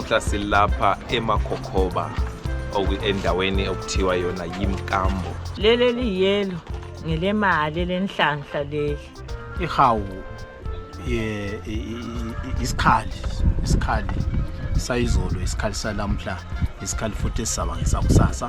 Mhla silapha eMakhokhoba oku- endaweni okuthiwa yona yimkambo leli eliyiyelo ngelemali elenhlanhla leli ihawu ye- i- i- i- isikhali isikhali sayizolo isikhali salamhla isikhali futhi esizaba ngesakusasa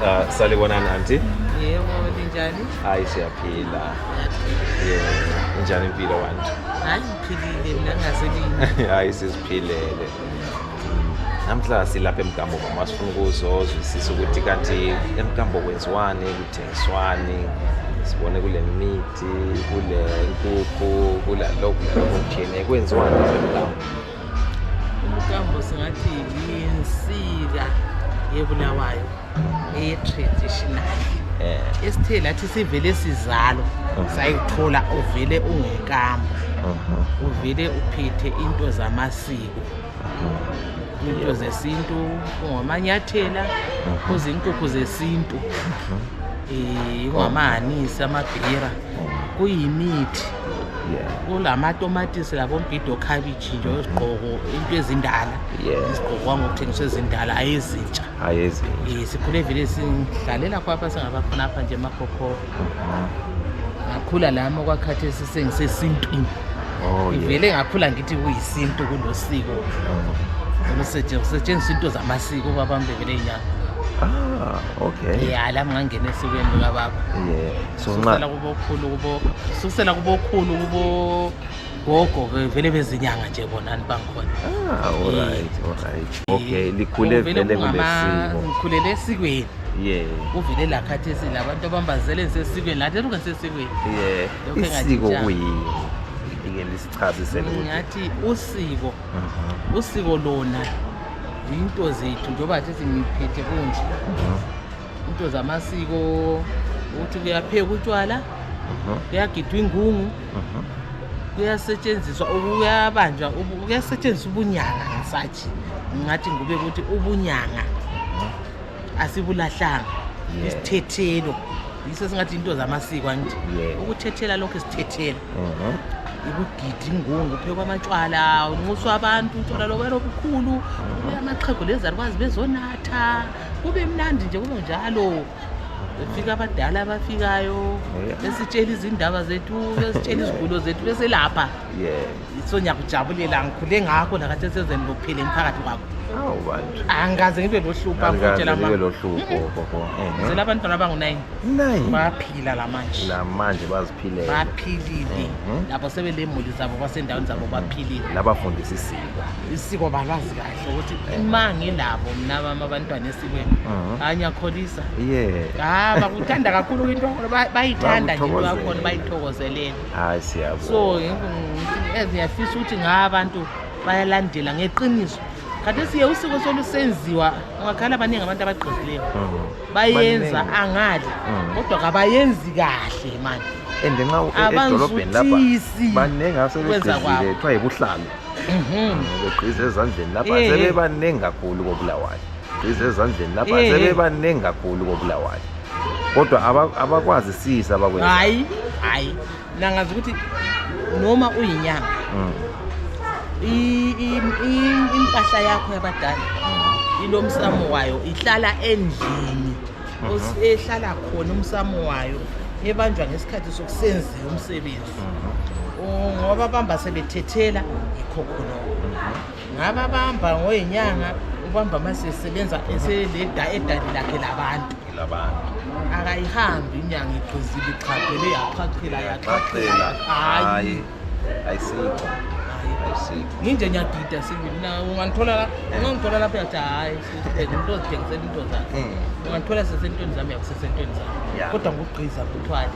Uh, salibonani anti yebo ninjani hayi siyaphila yeah. injani impilo wantu hayi ngiphilile mina ngaselini hayi siziphilele namhla silapha emgambo mama sifuna ukuzozwisisa ukuthi kanti emgambo kwenziwani swani sibone kule mithi kule nkukhu kulalokhu lalokhu kutshiyeneyo kwenziwani kwemlambo umkambo singathi yinsika yebulawayo eyetraditional eh. esithe lathi sivele sizalwa uh-huh. sayithola uvele ungekambo uh-huh. uvele uphethe into zamasiko into zesintu kungamanyathela kuzinkukhu zesintu um kungamahanisi amabhira kuyimithi kulamatomatisi labombhido khabitshi nje izigqoko into ezindala izigqokwa ngokuthengiswa ezindala ayezintsha um sikhule vele sidlalela khonapha singaba khonapha nje emakhokhoba ngakhula lami okwakhathesi sengisesintwini oh, ngivele ngakhula ngithi kuyisintu kulosiko oh. kusetshenziswa into zamasiko ubaba mbebele inyanga Ah, okay. Ya la ngangena esikweni lika baba. Yeah. So nxa la kubokhulu kubo. Susela kubokhulu kubo gogo ke vele bezinyanga nje bona ni bangikhona ah all right all right okay likhule vele kulesimo ngikhulele esikweni yeah uvele la khathesi labantu abambazele ngisesikweni lathi eluke ngisesikweni yeah isiko kuyini ngike lisichazise lokho ngathi usiko mhm. usiko lona into zethu njengoba sithi ngiphethe kunje mhm. into zamasiko ukuthi kuyaphekwa utshwala kuyagidwa ingungu kuyasetshenziswa kuyabanjwa kuyasetshenziswa ubunyanga ngisathi ngingathi ngube ukuthi ubunyanga asibulahlanga isithethelo yiso singathi into zamasiko angithi ukuthethela lokhu isithethelo ukugida ingungu phekwa amatshwala unxuswa abantu utshwala lokwela obukhulu amaxhego lezalukwazi bezonatha kube mnandi nje kunjalo befika abadala abafikayo oh, besitshela izindaba zethu besitshela izigulo zethu beselapha so ngiyakujabulela ngikhule ngakho nakathi esezeni lokuphila emphakathi kwakho angikaze ngibe lohlupha ngitshelaazela eh, abantwana abangu-nine baphila lamanje lamanje baziphilele baphilile mhm. labo sebelemuli zabo basendaweni zabo baphilile labafundisa isiko isiko balwazi kayo ukuthi uma ngilabo mna bami abantwana esikweni Mhm. hayi ngiyakholisa ye ha bakuthanda kakhulu into yakhona ba- bayithanda nje into yakhona Bakuthokozele. bayithokozelele hayi so siyabonga ngi- as ngiyafisa ukuthi nga abantu bayalandela ngeqiniso kade siye usiko solusenziwa ungakhala abaningi abantu abagqozileyo Mhm. bayenza Baningi. angali Mhm. kodwa kabayenzi kahle manje and nxa u- e- edolobheni lapha abanzwisisi baningi kwenza asebegezile kwabo. kuthiwa yibuhlalu beqisa ezandleni lapha Eh, eh. sebebaningi kakhulu kobulawayo qisa ezandleni lapha Eh, eh. sebebaningi kakhulu kobulawayo kodwa aba- abakwazisisi abakwenza hayi hayi nangazi ukuthi noma uyinyanga Mm. i- i- i- impahla yakho yabadala ilo msamo wayo ihlala endlini Os- ehlala khona umsamo wayo ebanjwa ngesikhathi sokusenziwa umsebenzi ngoba bamba sebethethela yikho khonoko ngaba bamba ngoyinyanga ubamba masesebenza eseleda edali lakhe labantu labantu akayihambi inyanga igqizile iqhaqhele yaqhaqhela yaqhaqhela hayi ayisikho nginje ngiyadida sibili na ungangithola ungangithola lapho yathi hhayi into zidingisela into zakhe hmm. ungangithola sesentweni zami yakusesentweni zami kodwa ngokugqiza kuthwale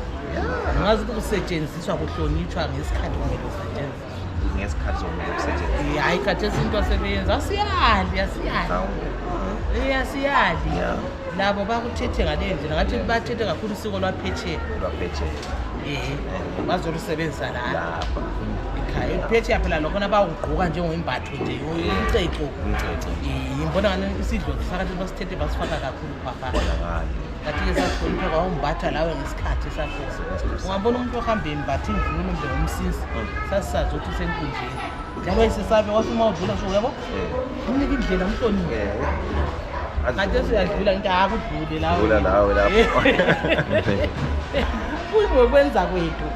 ngazi ukuthi kusetshenziswa kuhlonitshwa ngesikhathi kumele kusetshenziswa ngesikhathi sokumele kusetshenziswa hayi khathi esintu asebeyenza asiyali asiyali asiyali labo bakuthethe ngaleyo ndlela ngathi bathethe kakhulu usiko lwaphetsheya lwaphetsheya um bazolusebenzisa lapha ekhaya ekuphetsheya phela lokhona bawugqoka njengoyimbatho nje umceco ngibona ngani isidlo sisakathe basithethe basifaka kakhulu umbatha lawe ngesikhathi sakho ungabona umuntu ohamba embatha imvunulo mbe umsisi sasisazi ukuthi usenkundleni njalo isisabe wathi uma udlula so yabo umnika indlela umhlonile kade suyadlula ngithi akudlule lawodlula lawe lapho kuyingokwenza kwethu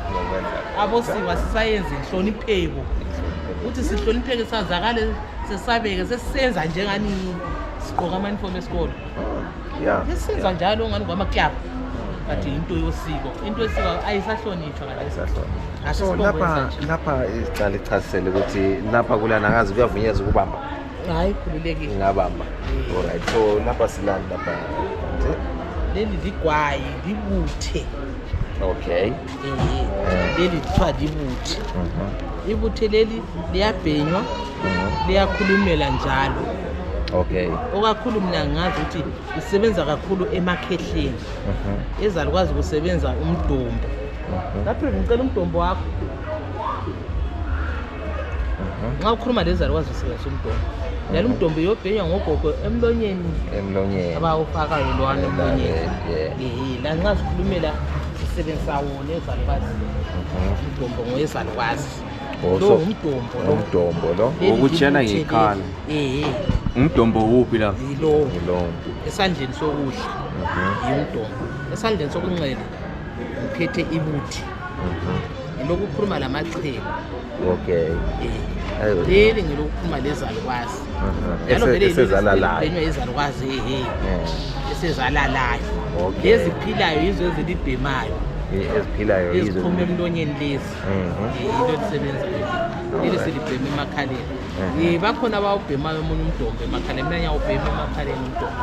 abosiwa sisayenze inhlonipheko ukuthi sihlonipheke sazakale sesabeke sesisenza njenganini sigqoka ama-uniform esikolo ya esenza njalo ngani ngwamaklab but yinto yosiko into yosiko ayisahlonitshwa ngale ayisahlonitshwa so Asisibongo lapha esanje. lapha icala ichasisele ukuthi lapha kulana kazi kuyavunyeza ukubamba hayi khululekile ingabamba alright so lapha silani lapha nje leli ligwayi libuthe okay leli kuthiwa libuthe ibuthe leli liyabhenywa liyakhulumela njalo okay okakhulu mina ngazi ukuthi isebenza kakhulu emakhehleni ezalukwazi kusebenza umdombo lapho ngicela umdombo wakho nxa ukhuluma lezali wazi usebenzisa umdomo njalo umdombo uyobhenywa ngogogo emlonyeni emlonyeni abawufakayo lwana emlonyeni eh, lanxa sikhulumela sisebenzisa wona ezalukwazi mhm. umdombo ngoyezalukwazi oh, lo ngumdombo lo umdombo lo wokutshela ngekhala eh umdombo wuphi la lo esandleni sokudla mhm. yimdombo esandleni sokunxele ngiphethe ibuthi ngilokukhuluma lamachelu okay eh, leli ngilokukhuluma lezalukwazi njalo vele esenywa izalukwazi ehe esezalalayo leziphilayo yizo ezilibhemayo eziphilayo eziphuma emlonyeni lezi yinto mhm. elisebenzayo leli silibhema emakhaleni mhm. eh, bakhona abawubhemayo omunye umdombe emakhaleni mina ngiyawubhema emakhaleni umdombe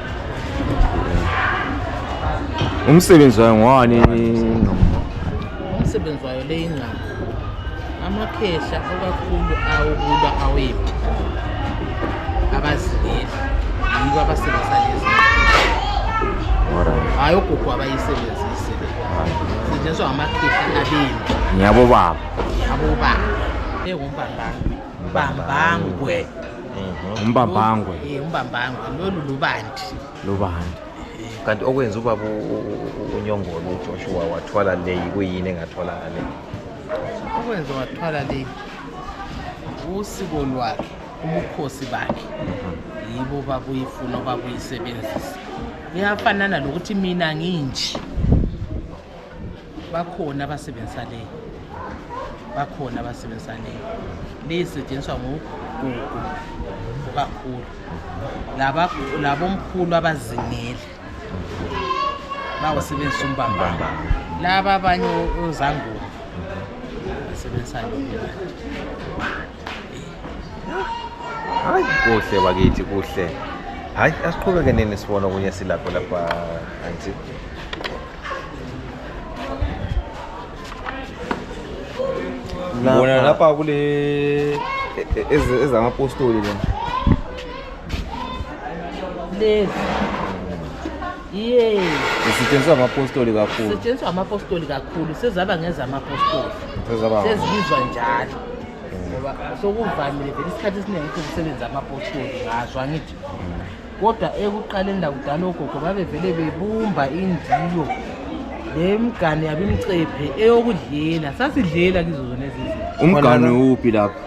umsebenzi wayo ngowani umsebenzi wayo le ingqama amakhehla okakhulu awokulwa awephi abazileli yibo abasebenzisa lezi hayi ogogo abayisebenzise setshenziswa ngamakhehla abembi ngiyabobaba ngiyabobaba engumbambangwe bambangwe umbambangwe Eh, umbambangwe lolu lubandi lubani kanti okwenza ubaba u- u- u- unyongolo ujoshua wathwala leyi kuyini engatholakale okwenza wathwala le usiko lwakhe ubukhosi bakhe yibo babuyifuna babuyisebenzisa kuyafanana lokuthi mina nginje bakhona abasebenzisa leyo bakhona abasebenzisa leyo leyi isetshenziswa ngogugu kakhulu labomkhulu abazingeli bawusebenzisa umbambamba laba abanye ozangoba basebenzisa lombanti hayi kuhle bakithi kuhle hayi asiqhubeke nini sibona okunye silapho lapha anti bona lapha kule e- e- ezamapostoli lena lezi Yey. Isetshenziswa amapostoli kakhulu. Isetshenziswa amapostoli kakhulu sezaba ngezamapostoli. Sezaba. Sezibizwa njalo. Ngoba sokuvamile vele isikhathi esiningi ukuthi kusebenza amapostoli ngazwa ngithi. Kodwa ekuqaleni la kudala ogogo babevele bebumba indiyo lemgane yabimcephe eyokudlela sasidlela kizo zona ezizinto. Umgane uphi lapha?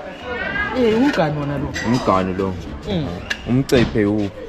Eh umgane wona lo. Umgane lo. Mm. Umcephe uphi?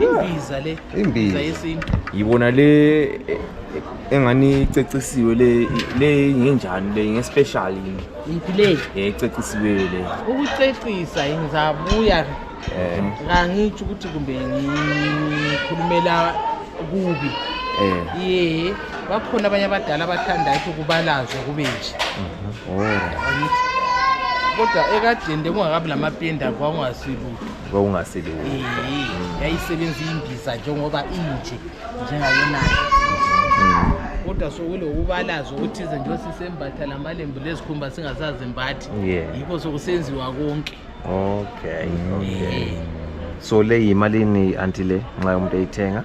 imbiza le imbiza yesintu yibona le engani icecisiwe le le ngenjani le ngespecial yini yiphi le ececisiwe le ukucecisa ngizabuya eh ngangitsho ukuthi kumbe ngikhulumela kubi eh ye bakhona abanye abadala abathanda ukuthi kubalazwe kube nje mhm. oh kodwa ekadeni bekungakabi lamapenda kwakungasilutho kwakungasilutho Iyi, yayisebenza imbiza njengoba inje njengayonayo kodwa sokulokubalaza okuthize nje sisembatha lamalembu lezikhumba singasazimbathi Yeah. yikho sokusenziwa konke okay okay so le yimalini anti le nxa umuntu eyithenga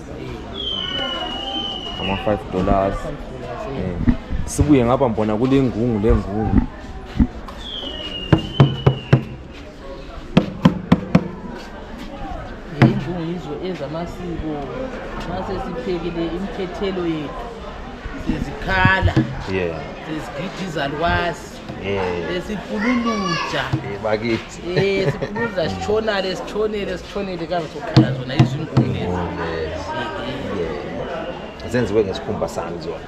ama 5 dollars eh, sibuye ngapha mbona kulengungu lengungu ingungu yizo enza amasiko masesiphekile imkhethelo yethu sizikhala yeah sizigida izalukwazi Eh sipululuja. Eh bakithi. Eh sipululuja eh, sichona lesichone lesichone lekazi sokhala zona izinguni lezi. Oh, eh, eh. Zenziwe ngesikhumba sami zona.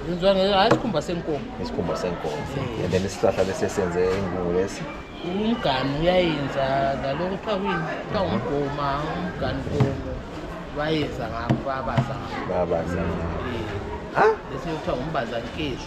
Zenziwe ngesikhumba senkomo. Ngesikhumba senkomo. And then isihlahla lesi senze ingubo lesi. umganu uyayenza lalo kuthiwa kuyini kuthiwa ngumgoma umganu komo bayenza ngabo babaza ngabo babaza ngabo eh, bese kuthiwa ngumbazankezo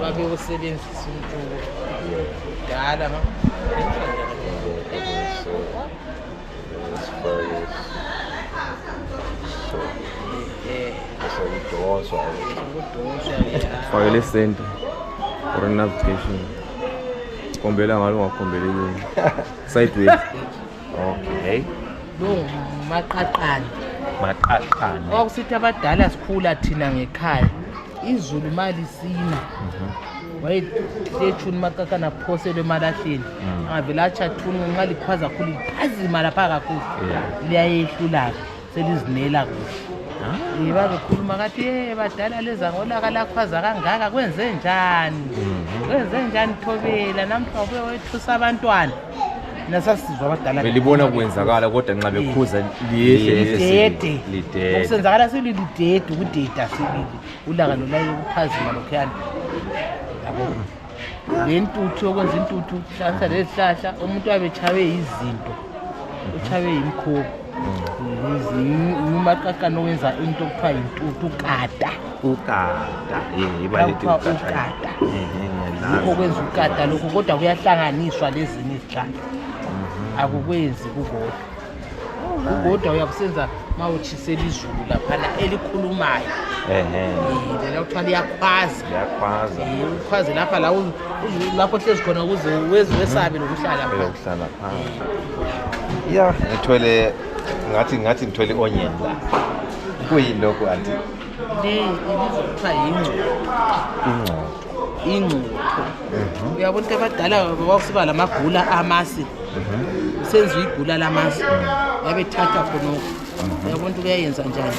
babewusebenzisa umculo dala fake lesenta for navigation khombela ngalo ungakhombeli kini sideways okay lo ngumaqaqane maqaqane kwakusithi abadala sikhula thina ngekhaya izulu malisina Mhm. wayetshuni umaqaqane aphoselwe emalahleni Mm. angavele atshathuni nxa likhwaza khulu liphazima lapha kakhulu Yeah. liyayehlulaka selizimela kuhle yiba bekhuluma kathi ye badala lezangolaka lakhwaza kangaka kwenze njani mhm. kwenze njani thobela namhla ubuye wethusa abantwana nasasizwa abadala belibona kwenzakala kodwa nxa bekhuza lidede okusenzakala sililidede ukudeda silili ulaka lolaye ukuphazima lokhuyana yabo ngentuthu yokwenza intuthu hlanganisa lezihlahla umuntu abe tshabe yizinto utshabe yimkhobo ngumaqaqana owenza into okuthiwa yintuthu ukata ukata ukata yikho kwenza ukata lokhu kodwa kuyahlanganiswa lezinye izihlahla akukwenzi kukodwa kodwa uyakusenza uma utshisela izulu laphana elikhulumayo lela kuthiwa liyakhwaza ukhwaze lapha lapho hlezi khona ukuze wezi wesabe lokuhlala ya ngithwele ngathi ngathi ngithwele i-onion la kuyini lokhu anti le ibizokuthiwa yingcubo ingcubo uyabo into abadala kwakusiba lamagula amasi kusenziwa igula lamasi babethatha khonoko uyabo nto kuyayenza njani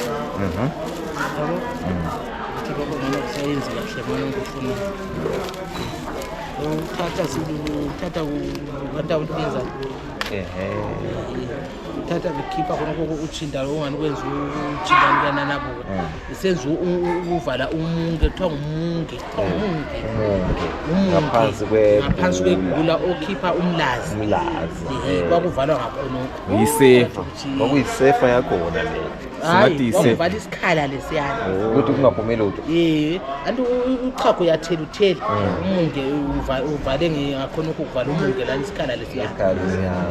yabo ukuthi baba ngana kusayenzi kahle mona ngikufuna uthatha uthatha kanti awulibenza ehe thatha bekhipha khona koko utshinda lo ungani kwenza utshinda lukananabo Eh. senza u- u- ukuvala umunke kuthiwa ngumunke kuthiwa ngumunke umunke Umunke. ngaphansi kwe- ngaphansi kwegula okhipha umlazi umlazi Ehe, eh. kwakuvalwa ngakhonokho Yisefa. kwakuyisefa yakhona le hayi Singathi yisefa. kwakuvala isikhala lesiyana ukuthi kungaphumi lutho Eh, anti uchago uyathela uthela umunge uva- uvale nge- ngakhonokho uvala umunge lani isikhala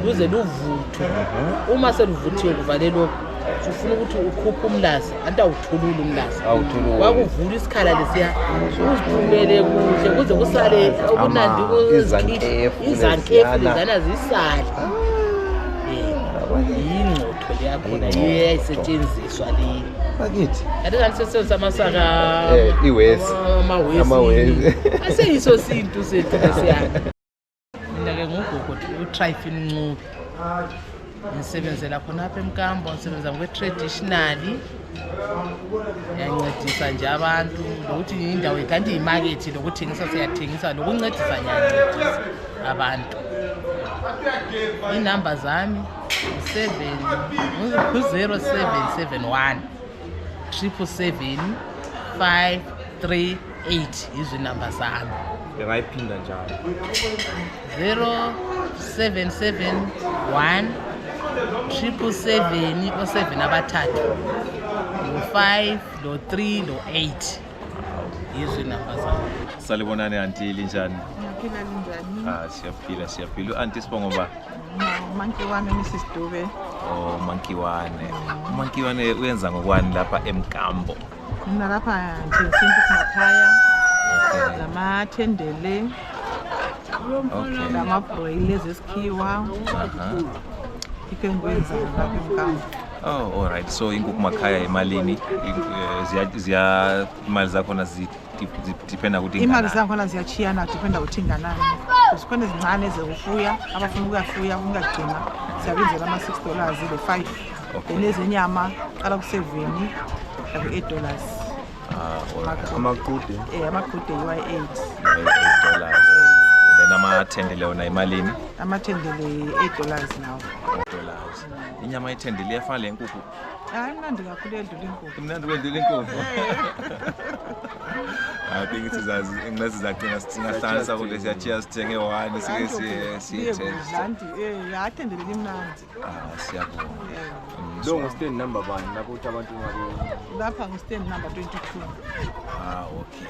luze luvuthwe uma seluvuthiwe kuvale lokhu sufuna ukuthi ukhuphe umlazi anti awuthululi umlazi wakuvula isikhala lesiya uziphumele kuhle kuze kusale okunandi izankefu lezana zisale yingcotho leyakhona yiyo eyayisetshenziswa leyi bakithi kanti kanti sesenzisa amasaka eh, iwesi amawesi aseyiso sintu sethu lesiyana Mina-ke ngugogoti utrifin ncubi ngisebenzela khonapha emkambo ngisebenza ngokwe-traditionally ngiyancedisa nje abantu lokuthi indawo kanti yimakethi lokuthengisa siyathengisa lokuncedisa ngiyancedisa abantu inumber zami ngu-zero seven seven one triple seven five three 8 izinamba zami bengayiphinda njalo 0771 triple seven oseven abathathu lo-five lo-three lo-eight yizo inamba zabo salibonani anti linjani ah, siyaphila siyaphila u-anti sibongo ba umankiwane mrs dube o oh, umankiwane umankiwane uyenza ngokwani lapha emgambo Mina lapha nje sintu simakhaya okay. lamathendele okay. lamabroyile zesikhiwa uh -huh. ikhe ngikwenza lapha emkambo Oh, all right. So inkukhu makhaya imalini eh, ziya ziya imali zakhona zi dependa ukuthi imali zakhona ziyachiyana dependa ukuthi inganani zikhona ezincane ezokufuya abafuna ukuyafuya ukungagcina siyabenzela ama-six dollars le-five Okay. Then ezenyama qala kuseveni laku eight dollars. Ah, Amaqude. amaqude Eh amaqude yiwa eight. eight dollars and then amathendele wona imalini Amathendele eight dollars nawo. dollars inyama yethendele iyafana le nkukhu Hayi mnandi kakhulu endlula inkukhu. imnandi kwendlula inkukhu I think it is as unless it's like us to stand so they just take it one Hayi, siye siye siye siye test. kudlanti. Eh athendele limnandi. Lo ngu stand number bani lapho ukuthi abantu ngabe lapha ngu stand number 22 ah okay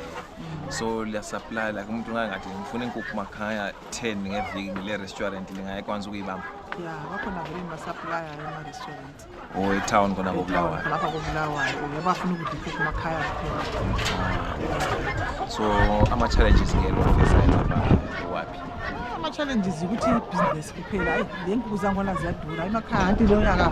so liya supply like umuntu ngangathi ngifuna inkukhu makhaya 10 ngeviki ngile restaurant lingayekwanisa ukuyibamba ya bakhona vele ngibasaplaya ema-restaurant or etown khona kobulawayo lapha kobulawayo uye bafuna ukudla inkukhu makhaya kuphela so ama-challenges ngelo fesa waphi ama-challenges ukuthi ibhizinesi kuphela ayi le nkukhu zangona ziyadura emakhaya anti leyo nyaka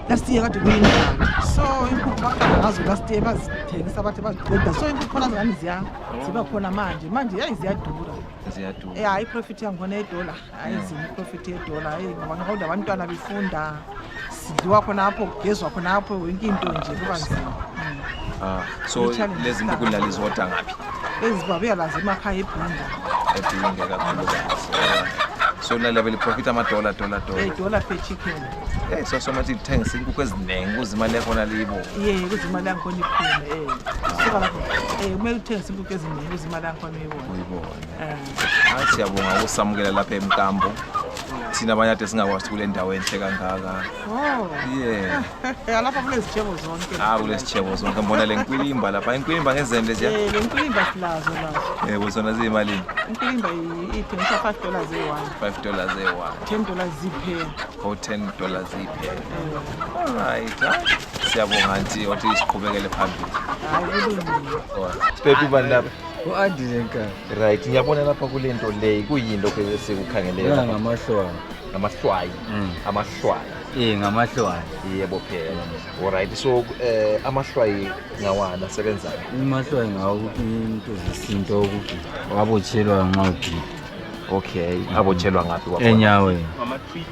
last year kade kuyinjani so inkukhu baqala ngazo last year bazithengisa bathi baziqeda so inkukhu khona zingani ziya ziba khona manje manje yayi ziyadura ziyadura ya iprofit yangikhona yedola ayi zini iprofit yedola ayi ngoba ngihoda abantwana befunda sidliwa khonapho kugezwa khonapho yonke into nje kuba nzima Ah, so Literally lezi stuck. nkukhu lali zodwa ngaphi ezibabuya lazo emakhaya ebhinda ebhinge kakhulukazi Ah, so lala beliprofitha amadola dola dola edola per chicken Eh, so somathi lithengisa inkukhu eziningi ukuze imali yakhona liyibo ye ukuze imali yangikhona iphume um suka lapho um kumele uthengise inkukhu eziningi ukuze imali yangikhona uyibone uyibone Eh. Ah, siyabonga ukusamukela lapha emkambo thina abanye ade singakwazi kule ndawo enhle kangaka oh. yeah alapha kulezitshebo zonke ah kulezitshebo zonke mbona le nkwilimba lapha inkwilimba ngezende nje eh le nkwilimba silazo lazo yebo zona ziyimalini inkwilimba ithengisa 5 dollars eyi-one 5 dollars eyi-one 10 dollars ziphela o oh, 10 dollars ziphela eh. all right siyabonga nti wathi siqhubekele phambili hayi kulungile sibhebhe ubani lapha u-andi nenkani Right, ngiyabona lapha kule nto leyi kuyini lokhu esikukhangeleyo Lawa lapha? ngamahlwaya. ngamahlwayi Mm. amahlwayi Eh ngamahlwaya. yebo phela olright so um amahlwayi ngawani asebenzani Amahlwaya ngawo into zesintu okuthi wabotshelwa nxa ugida okay abotshelwa ngaphi kwakhona? enyaweni.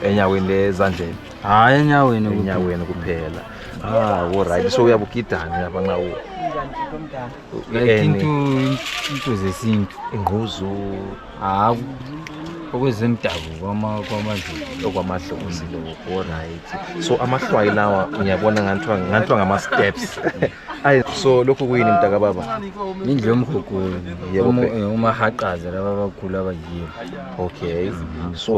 enyaweni lezandleni Hayi enyaweni kuphela. enyaweni kuphela ah olright so uyabugidani lapha nxa u- like into into zesintu ingquzu hawu okwezemdabuko kwamazulu okwamahlonzi lokho right so amahlwayi lawa ngiyabona nganthiwa nganthiwa ngama-steps ayi so lokhu kuyini mntaka baba indlu yomgogolo umahaqaza laba abakhulu abayiyo okay so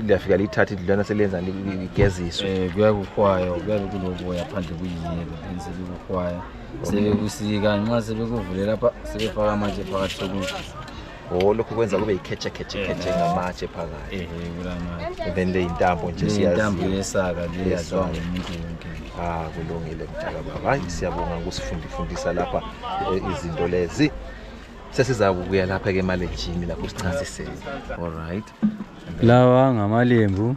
liyafika liyithatha indlu lana seliyenza ligeziswe um eh, kuyakuhwaywa kuyabe kulokuya phandle kuyiyelo enzelikuhwaya sebekusiika nxa sebekuvule lapha sebefaka amatshe phakathi sokudla o lokhu kwenza kube yikhetshekhetshekhetshe eh. ngamatshe phakathi eh, eh, then le yintambo nje siyayintambo yesaka leyazwa ngumuntu wonke ah kulungile mtaka baba hayi siyabonga ukusifundifundisa lapha izinto lezi sesizakubuya lapha ke emalejini lapho sichasisele all right lawa ngamalembu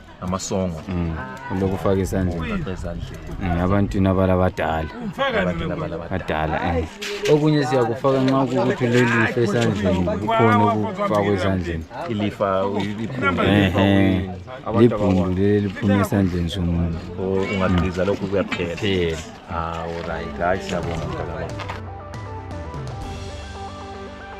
amasongo Mm, lokufaka isandla Ngifaka ezandleni Mm, abantwini abalabadala abantwana balabadala badala eh. okunye siyakufaka nxa kukuthi lelifa esandleni kukhona okufakwa esandleni ilifa uyiliphunga Ehe. libhundu leli liphuma esandleni somuntu ungagqiza lokhu kuyaphela phela hawu right hayi siyabonga mntakababa